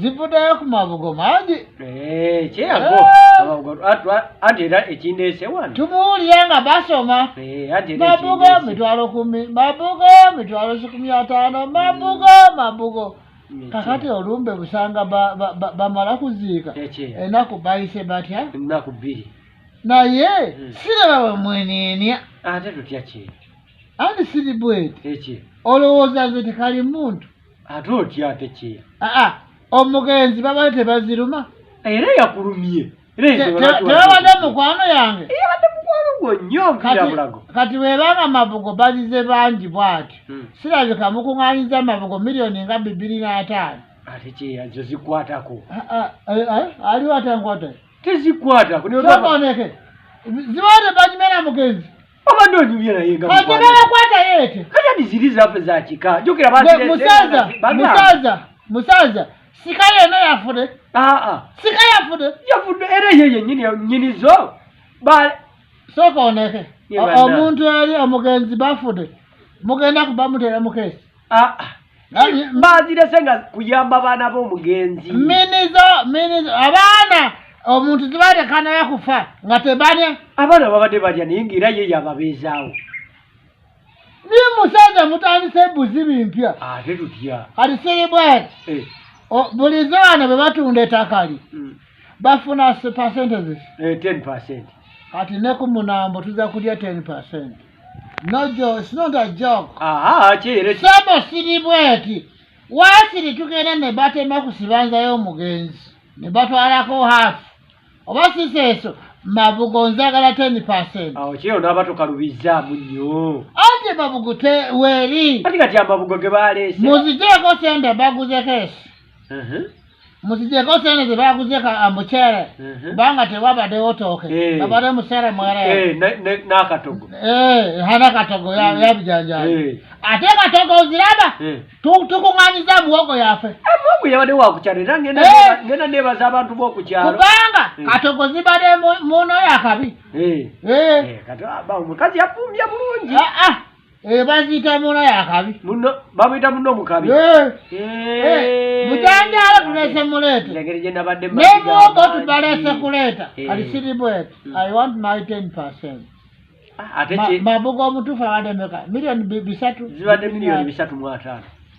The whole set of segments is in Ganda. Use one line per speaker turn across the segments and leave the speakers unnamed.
zivudayo ku mabugo mangi eh, kyeyago
eh. amabugo ati era ekindeese wano tumuwulira nga basoma
eh, mabugo
mitwalo
kumi mabugo mitwalo kikumi ataano mabugo mabugo kakati olumbe busanga bamala kuziika enaku bayise batya enaku bbiri
naye
hmm. siraba bamwenienia ate tutya
kintu ani siri
bwete eki olowooza
nze
tekali muntu ate otya ate
ki aa omugenzi
babale tebaziruma era yakulumye
tebabadde
mukwano yange
kati webanga
mabugo bazize bangi bwati hmm. sirabika mukuŋanyiza mabugo miliyoni nga bibiri n'ataano ate kyeyazo
zikwatako
aliwo atankwata tezikwatako zibaate banyumera mugenzi obadde onyumye
naye nga mukwata
yeete kati adiziri zaffe
zakika jukira musaza musaza
musaza sika yena yafude aa sika yafude yafude era ye
yenyini nyini zo ba soka oneke
omuntu eri omugenzi bafude mugenda kubamuteera mukesi ah, ah. bazirese
nga kuyamba baana bomugenzi minizo minizo
abaana omuntu zibalekana yakufa nga tebane abaana babadde balya
naye nga era ye yababeezaawo
naye musajja mutandise ebuzi bimpya ate tutya
alisiribwati
eh. bulize bano bwe batunda etakali hmm. bafuna percentages eh, ten percent
kati ne
ku munambo tuza kulya ten percent No, Joe, it's not a joke. Ah, ah, kiri. Sebo
siri
bweti. Wasiri tugenda ne batema kusibanza yo mugenzi. Ne batwalako half. Oba sisi eso mabugo nzagala 10%. Ah, oh, kiri ndaba
tukalubiza munyo. Ate mabugo
te weri. Ati kati amabugo ge
balese. Muzijeko sende
baguze kesi. muzijeko sente zebaguze mucere kubanga tewabadewo tooke babade mucere mwerenakatogo hanakatogo yabijanjaa ate katogo oziraba tukunganyiza muwogo yafe mungu yabade
wakukyalo era ngenda nebaza abantu bokukyalo kubanga katogo
zibade muno yakabi
omukazi yafumbya bulungi ah, ah. Eh, baziyita
muna yakabi bamuyita muno
omukabi eh. Eh,
mujanjala tulese muleeta nemwogo tubalese kuleeta kati siri bwete hmm. i want my ten percent ah, mabuga omutuufu abadde meka milioni bisatu zibadde milioni bisatu
mu ataano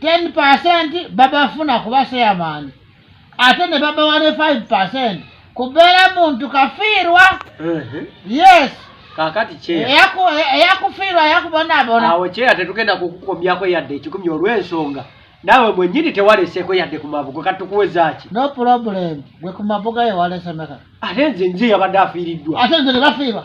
ten percent babafuna kuba chairman ate ne babawa ne five percent kubeera muntu kafiirwa yes kakati
eyakufiirwa
eyakubonaabona awo kyeya tetugenda
kukukomyako yadde ekikumi olw'ensonga naawe mwenyini tewaleseeko yadde ku mabugo kati tukuwezaaki no problem
gwe ku mabuga yewalesemeka ate nze nze
yabadde afiiriddwa ate nze ne bafiirwa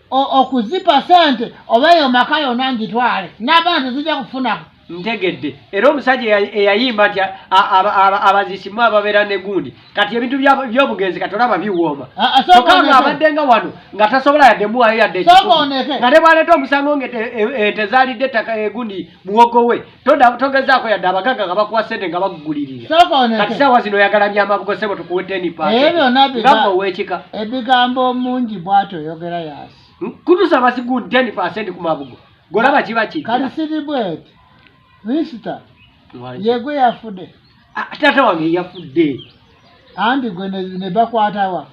okuzipa sente oba eyo maka yona ngitwale nabana tezija kufunako ntegedde
era omusajja eyayimba nti abazisimu ababeera negundi kati ebintu byobugenzi kati olaba biwooma tokanga abadde nga wano nga tasobola yadde muwayo yadde nga ne bwaleeta omusango nga ente zalidde ettaka egundi muwogo we togezaako yadde abagagga nga bakuwa ssente nga bakugulirira kati saawa zino oyagala byamabugo sebo tukuwe teni paasengamba owekika ebigambo
mungi bwati oyogera yasi hmm? kutusa basigu
teni
paasenti
ku mabugo golaba
kiba
kikati siri bweti misita
yegwe yafude Ah, taata wange
yafudde anti
gwe ne bakwatawa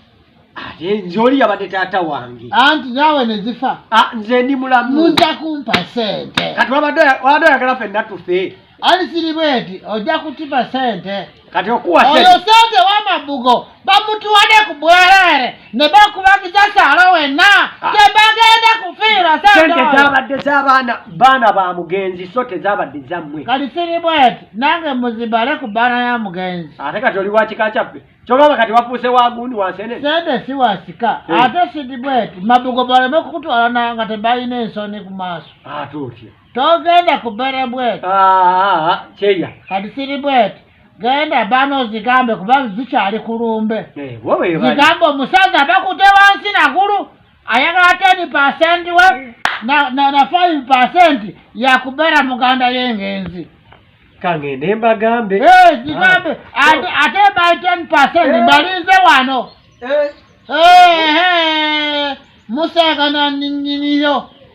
ate
nze oli yabadde taata wange anti naawe ne
zifa ah, nze ndi mulamu
muza kumpa
sente kati wabadde
oyagala fenna tufe ali siri bweti
ojja kutima sente kati okuwa
sente
wamabugo bamutuwade ku bwerere ne bakubagiza saalo wenna ah. tebagenda kufiira sente zabadde
zabaana baana ba mugenzi so tezabadde zammwe kati siri bweti
nange muzibale ku baana ya mugenzi ate kati oli wakika
kyaffe kyobaba kati wafuuse wagundi wansene sente si wasika
eh. ate siri bweti mabugo baleme kukutwala nayo nga tebalina ensoni ku maaso ate ah, otya
togenda kubere
bweti ah, kyeya
kati siri
bweti genda bana ozigambe kuba zikyali ku lumbe eh, zigambe omusajja bakute wansi nagulu ayagala teni pasenti we na five pasenti yakubeera muganda yengenzi kangende
mbagambe eh, zigambe
ah. ate by ten pasenti eh. mbalinze wano musaga nanyinyiyo